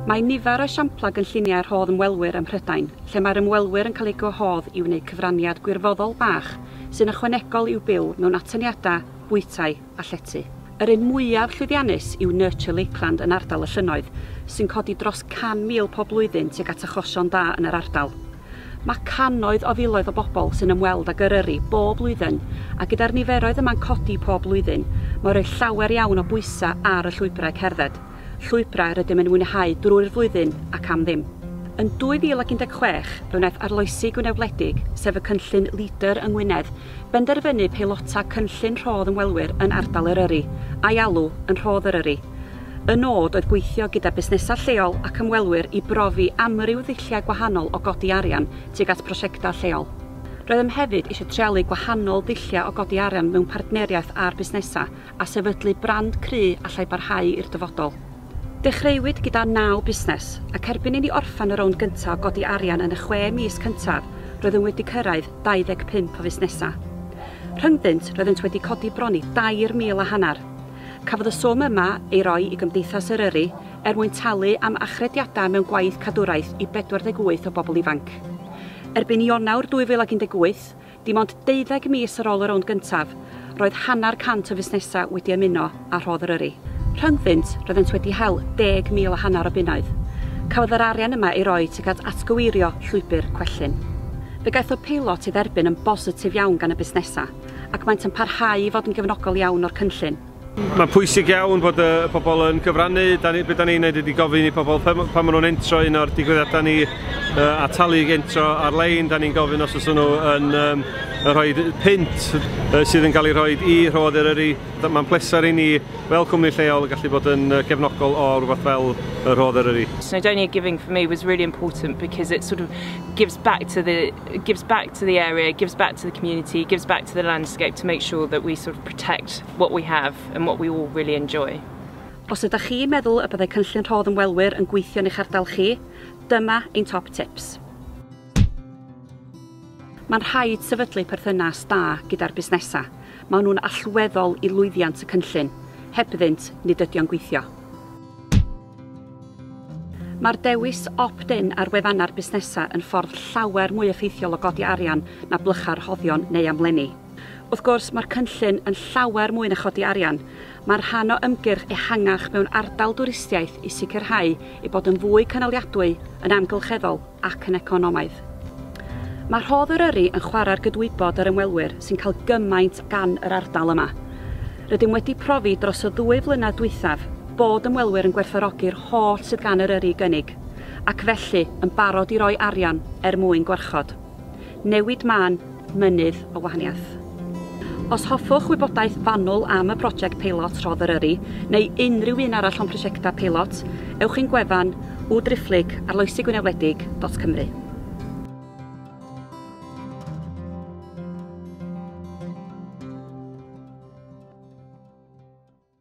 Mae nifer o esiamplau gynlluniau rhodd ymwelwyr ym Mhrydain, lle mae'r ymwelwyr yn cael eu gwahodd i wneud cyfraniad gwirfoddol bach sy'n ychwanegol i'w byw mewn atyniadau, bwytai a llety. Yr un mwyaf llwyddiannus yw Nurture Lakeland yn ardal y Llynnoedd, sy'n codi dros 100,000 pob blwyddyn tuag at achosion da yn yr ardal. Mae cannoedd o filoedd o bobl sy'n ymweld ag Eryri bob blwyddyn, a gyda'r niferoedd yma'n codi pob blwyddyn, mae'n rhoi llawer iawn o bwysau ar y llwybrau cerdded, llwybrau rydym yn mwynhau drwy'r flwyddyn ac am ddim. Yn 2016, fe wnaeth arloesi Gwynedd Wledig, sef y cynllun LEADER yng Ngwynedd, benderfynu peilota cynllun rhodd ymwelwyr yn ardal Eryri, a'i alw yn Rhodd Eryri. Y nod oedd gweithio gyda busnesau lleol ac ymwelwyr i brofi amryw ddulliau gwahanol o godi arian tuag at brosiectau lleol. Roeddem hefyd eisiau treialu gwahanol ddulliau o godi arian mewn partneriaeth â'r busnesau a sefydlu brand cry allai barhau i'r dyfodol. Dechreuwyd gyda naw busnes, ac erbyn i ni orffen y rownd gyntaf o godi arian yn y chwe mis cyntaf, roeddwn wedi cyrraedd 25 o fusnesau. Rhyngddynt, roeddent wedi codi bron i dair mil a hanner. Cafodd y swm yma ei roi i Gymdeithas Eryri er mwyn talu am achrediadau mewn gwaith cadwraeth i 48 o bobl ifanc. Erbyn Ionawr 2018, Dim ond deuddeg mis ar ôl y rownd gyntaf, roedd hanner cant o fusnesau wedi ymuno â Rhodd Eryri. Rhyngddynt, roeddent wedi hel deg mil a hanner o bunnoedd. Cafodd yr arian yma ei roi tuag at atgyweirio llwybr Cwellyn. Fe gaethodd peilot ei dderbyn yn bositif iawn gan y busnesau, ac maent yn parhau i fod yn gefnogol iawn o'r cynllun. Mae'n pwysig iawn bod y pobl yn cyfrannu, beth da ni'n gwneud ydy gofyn i pobl pan maen nhw'n entro un o'r digwyddiadau ni a talu entro ar-lein, da ni'n gofyn os oes nhw yn rhoi pint sydd yn cael ei rhoi i Rhodd Eryri, mae'n pleser i ni fel cwmni lleol gallu bod yn gefnogol o rhywbeth fel Rhodd Eryri. Snowdonia Giving for me was really important because it sort of gives back to the it gives back to the area, gives back to the community, gives back to the landscape to make sure that we sort of protect what we have and what we all really enjoy. Os ydych chi'n meddwl y byddai cynllun rhodd ymwelwyr yn gweithio yn eich ardal chi, dyma ein top tips. Mae'n rhaid sefydlu perthynas da gyda'r busnesau. Maen nhw'n allweddol i lwyddiant y cynllun. Heb iddynt, nid ydy o'n gweithio. Mae'r dewis opt-in ar wefannau'r busnesau yn ffordd llawer mwy effeithiol o godi arian na blychau rhoddion neu amlenni. Wrth gwrs, mae'r cynllun yn llawer mwy na chodi arian. Mae'n rhan o ymgyrch ehangach mewn ardal dwristiaeth i sicrhau ei bod yn fwy cynaliadwy, yn amgylcheddol, ac yn economaidd. Mae rhodd Eryri yn chwarae ar gydwybod yr ymwelwyr sy'n cael gymaint gan yr ardal yma. Rydym wedi profi dros y ddwy flynedd dwythaf bod ymwelwyr yn gwerthfawrogi'r holl sydd gan Eryri i gynnig, ac felly yn barod i roi arian er mwyn gwarchod. Newid mân, mynydd, o wahaniaeth. Os hoffwch wybodaeth fanwl am y prosiect peilot Rhodd Eryri, neu unrhyw un arall o'n prosiectau peilot, ewch i'n gwefan www.driphlyg arloesigwynewledig.cymru.